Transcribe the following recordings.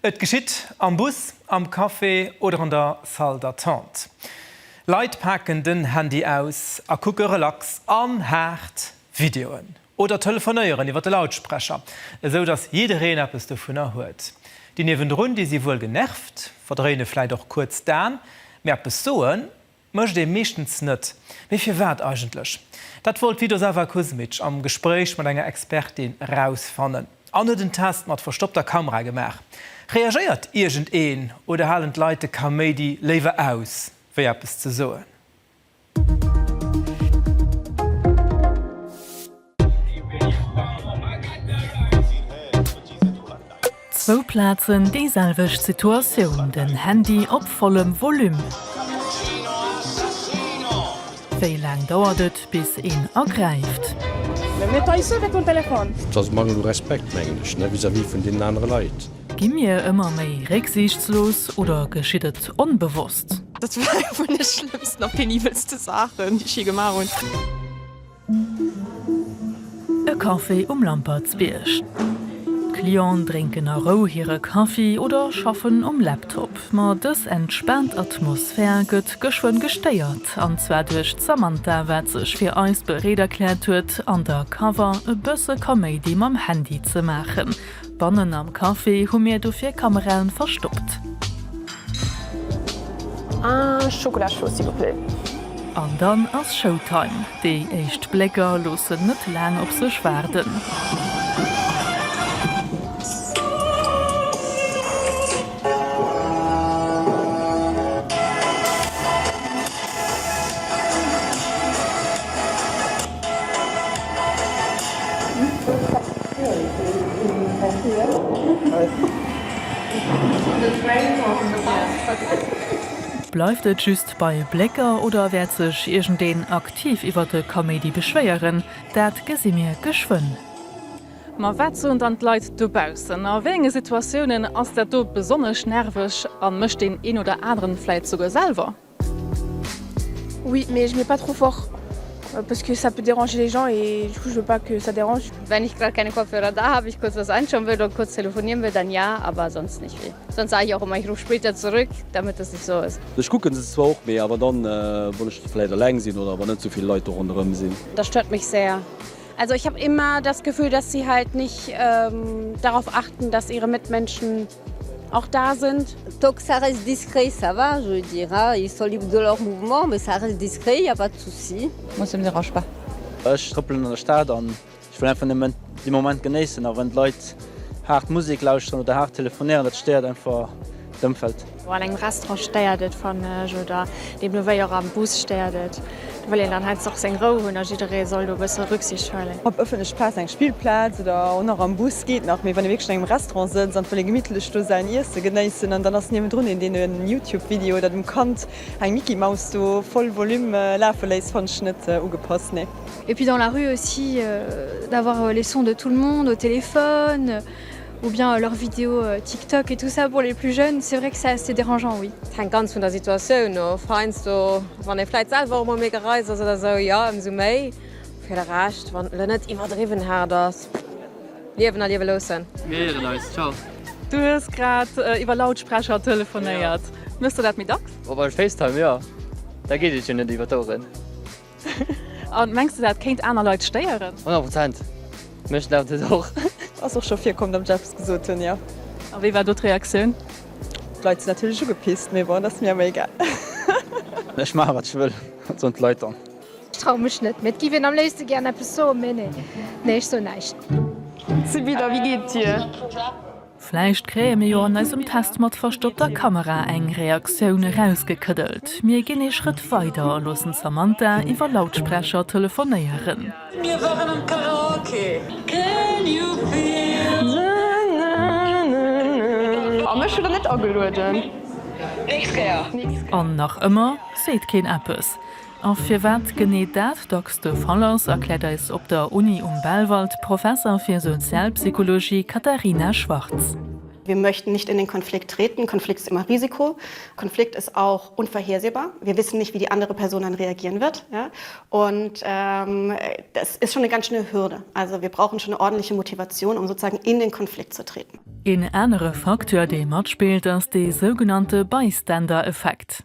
Et geschitt am Bus, am Café oder an der Salle d'attente. Leit paken den Handy aus a kucke relax an haart Videoen oder telefonéieren iwwer de Lautsprecher, esou datt jiddereen eppes dovunner huet. Déi niewendrun, déi si wuel genervt, verdréine vläit och kuerz d'Aen, mee eppes soen Mécht ee meeschtens net. Mee firwat eigentlech? Dat wollt d'Vidosava Kuzmic am Gespréich mat enger Expertin erausfannen an huet en Test mat verstoppter Kamera gemaach. Reagéiert iergend een oder halen d'Leit de Kaméidi léiwer aus, wéi eppes ze soen? Zwou Plazen, déi selwecht Situatioun, den Handy op vollem Volume. Wéi laang dauert et bis een agräift? Et ass e Mangel u Respekt, mengen ech, vis-à-vis vun deenen anere Leit. Gi mir ëmmer méi récksiichtslos oder geschitt et onbewosst? Dat war eng vun de schlëmmsten a penibelste Saachen, déi ech jee gemaach hunn. E Café um Lampertsbierg. D'Clienten drénken a Rou hire Kaffi oder schaffen um Laptop. Ma dës entspaant Atmosphär gëtt geschwënn gestéiert, an zwar duerch d'Samantha, wat sech fir eis bereet erkläert huet, an der Cover e bësse Kaméidi mam Handy ze maachen. Bannen am Café hu mir dofir Kameraen verstoppt. Ah Schokola chaud s'il vous plaît. An dann ass Showtime. Déi éischt Blécker loossen net laang op sech waarden. Bleift et just bei Blécker oder wäert sech iergendeen aktiv iwwert de Kaméidi beschwéieren? Dat gesi mir geschwënn. Ma wat soen dann d'Leit dobaussen? A wéi enge Situatiounen ass dat do besonnesch nerveg a mécht deen een oder aneren vläit souguer selwer? Oui mais je mets pas trop fort parce que ça peut déranger les gens et du coup je veux pas que ça dérange. Wenn ich grad keine Kopfhörer da habe, ich kurz was einschauen will oder kurz telefonieren will, dann ja, aber sonst nicht viel. Sonst sage ich auch immer, ich rufe später zurück, damit das nicht so ist. Ech kucken se zwar och, mee awer dann wann ech vläit eleng sinn oder wann net souvill Leit do ronderëm sinn. Das stört mich sehr, Also ich hab immer das Gefühl, dass sie halt nicht ähm, darauf achten, dass ihre Mitmenschen auch da sind. Tant que ça reste discret, ça va, je veux dire, hein. Ils sont libres de leur mouvement, mais ça reste discret, y a pas de souci. Moi, ça me dérange pas. Ech trëppelen an der Stad an ech wëll einfach nëmmen de Moment genéissen. A wann d'Leit haart Musek lauschteren oder haart telefonéieren, dat stéiert einfach d'Ëmfeld. An engem Restaurant stéiert et fannen ech oder deemno wéi och am Bus stéiert et. Do wëll een dann heiansdo och seng Rou hunn a jidderee soll do e bësse Rücksicht huelen. Op ëffentleche Plazen, eng Spillplaz oder och nach am Bus geet nach, mee wann ee wierklech an engem Restaurant sëtzt an et wëll ee gemittlech do säin Iesse genéissen an dann ass niewendrun een deen en Youtube Video oder dem Kand eng Mickey Maus do voll Volume lafe léisst, fannen ech net ugepasst, nee. Et puis dans la rue aussi d'avoir les sons de tout le monde au téléphone ou bien leurs vidéos TikTok et tout ça pour les plus jeunes, c'est vrai que ça c'est dérangeant oui. Et hänkt ganz vun der Situatioun of, heiansdo wann ee vläit selwer och mol méi gereist ass oder sou, jo ëmsou méi, fir de Rescht wann et elo net iwwerdriwwen haart ass, liewen a liewe loossen. Mir héieren eis, ciao. Du hues grad iwwer Lautsprecher telefonéiert. Méchs de dat méi dacks? Op eis Facetime, jo, da geet et jo net iwwer d'Oueren. An mengs de dat kéint aner Leit stéieren? 100 Prozent, mech stert et och. Ass och scho virkomm datt ech eppes gesot hunn, jo. A wéi war do d'Reaktioun? D'Leit sinn natierlech ugepisst, mee bon, dat ass mir awer egal. Ech maache wat ech wëll, soen d'Leit dann. Ech traue mech net, mee et géif een am léifste gären eppes soen, mee nee, nee ech soen näischt. Subi, da wéi geet et dir? Vläicht kréie mir jo an eisem Test mat verstoppter Kamera eng Reaktioun erausgekëddelt. Mir ginn ee Schrëtt weider a loossen d'Samantha iwwer Lautsprecher telefonéieren. An nach ëmmer seet keen eppes. A firwat genee dat dacks de Fall ass, erkläert eis op der Uni um Belval d'Professer fir Sozialpsychologie Katharina Schwarz. Wir möchten nicht in den Konflikt treten, Konflikt ist immer Risiko, Konflikt ist auch unvorhersehbar, wir wissen nicht, wie die andere Person dann reagieren wird. Und das ist schon eine ganz schöne Hürde. Also wir brauchen schon eine ordentliche Motivation, um sozusagen in den Konflikt zu treten. Een anere Facteur, dee matspillt, ass dee sougenannte Bystander-Effekt.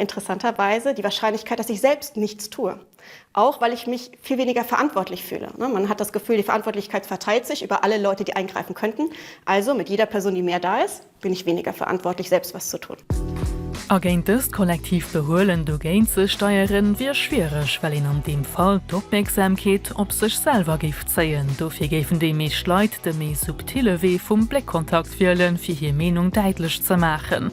interessanterweise die Wahrscheinlichkeit, dass ich selbst nichts tue, auch weil ich mich viel weniger verantwortlich fühle. Man hat das Gefühl, die Verantwortlichkeit verteilt sich über alle Leute, die eingreifen könnten. Also mit jeder Person, die mehr da ist, bin ich weniger verantwortlich, selbst was zu tun. A géint dëst kollektiivt Behuelen dogéint ze steieren, wier schwiereg, well een an deem Fall d'Opmierksamkeet op sech selwer géif zéien. Dofir géifen déi meescht Leit de méi subtille Wee vum Bléckkontakt wielen, fir hir Meenung däitlech ze maachen.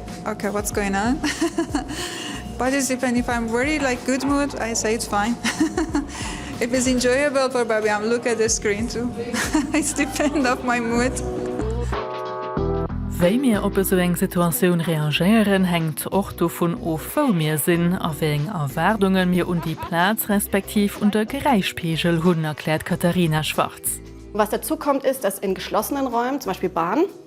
Ok what's going on But is even if I'm very like good mood I say it's fine It is enjoyable for Barbie I'm look at the screen too It's depend of my mood. Wéi mir op esou eng Situatioun reagéieren, hänkt och dovun of, wou mir sinn a wéi eng Erwaardunge mir un déi Plaz respektiv un de Geräischpegel hunn, erkläert d'Katarina Schwarz. Was dazukommt ist, dass in geschlossenen Räumen, zum Beispiel Bahn,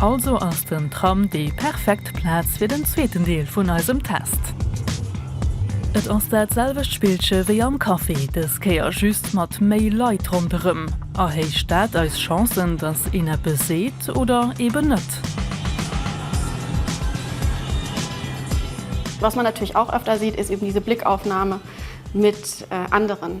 Also ass den Tram déi perfekt Plaz fir den zweeten Deel vun eisem Test. Et ass dat selwecht Spillche wéi am Café, dës Kéier just mat méi Leit ronderëm. Erhéicht dat eis Chancen, dass een eppes seet oder eben net? Was man natürlich auch öfter sieht, ist eben diese Blickaufnahme mit anderen.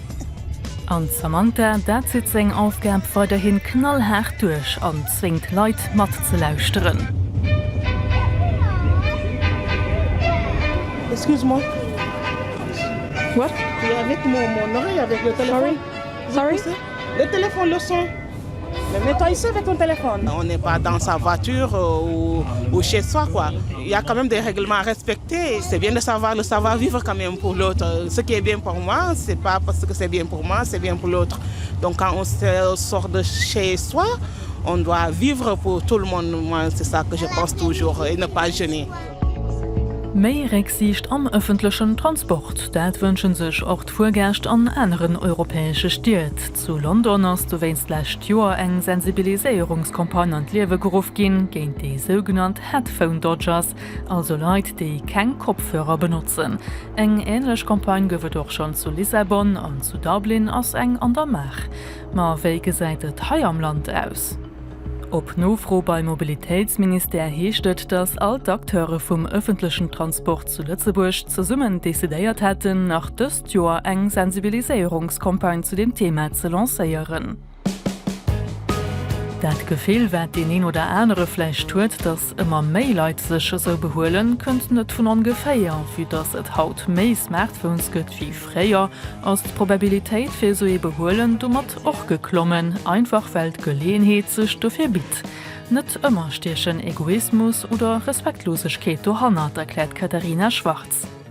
An d'Samantha, dat zitt seng Aufgab weiderhin knallhaart duerch an zwéngt d'Leit matzelauschteren. Méi Récksiicht am ëffentlechen Transport, dat wënsche sech och d'Fuergäscht an aneren europäesche Stied. Zu London ass dowéinst lescht Joer eng Sensibiliséierungscampagne an d'Liewe geruff ginn géint déi sougenannt Headphone Dodgers, also Leit, déi keng Kopfhörer benotzen. Eng änlech Campagne gouf et och schonn zu Lissabon an zu Dublin ass eng an der Maach. Ma wéi gesäit et hei am Land aus? Op Nofro beim Mobilitéitsministère heescht et, datt all d'Acteure vum ëffentlechen Transport zu Lëtzebuerg zesummen decidéiert hätten, nach dës. d'Joer eng Sensibiliséierungscampagne zu dem Thema ze lancéieren. Dat Gefill, wat deen een oder anere vläicht huet, datt ëmmer méi Leit sech esou behuelen, kënnt net vun ongeféier. Vue datt et haut méi Smartphones gëtt wéi fréier, ass d'Probabilitéit fir esou ee Behuelen domat och geklommen, einfach well d'Geleeënheet sech dofir bitt. Net ëmmer stiechen Egoismus oder Respektlosegkeet dohannert, erkläert d'Katharina Schwarz.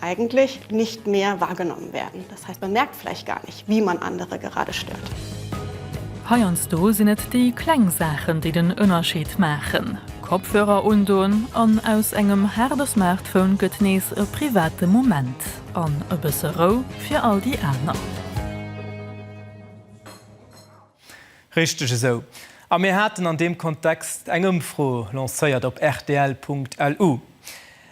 Eigentlich nicht mehr wahrgenommen werden, das heißt, man merkt vielleicht gar nicht, wie man andere gerade stört. Heiansdo sinn et déi kleng Saachen, déi den Ënnerscheed maachen. Kopfhörer undoen an aus engem haarde Smartphone gëtt nees e private Moment an e bësse Rou fir all déi aner. Richteg esou. A mir haten an deem Kontext eng Ëmfro lancéiert op rtl.lu.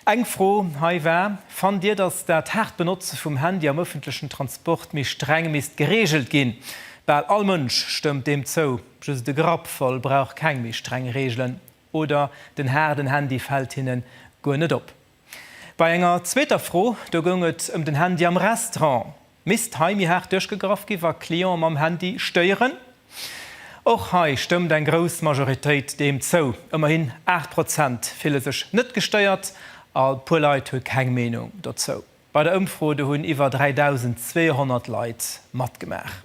Eng Fro hei war, Fannt Dir, datt dat haart Benotze vum Handy am ëffentlechen Transport méi streng misst gereegelt ginn? Bal all Mënsch stëmmt deem zou, just de Grappvoll brauch keng méi streng Reegelen oder den haarden Handy fält hinnen guer net op. Bei enger zweeter Fro, do goung et ëm den Handy am Restaurant, misst hei méi haart duerchgegraff gi wa Cliente mam Handy stéieren. Och hei stëmmt eng grouss Majoritéit deem zou, ëmmerhin 8 Prozent fille sech net gestéiert a puer Leit hu keng Meenung dozou. Bei der Ëmfro do hunn iwwer 3.200 Leit matgemaach.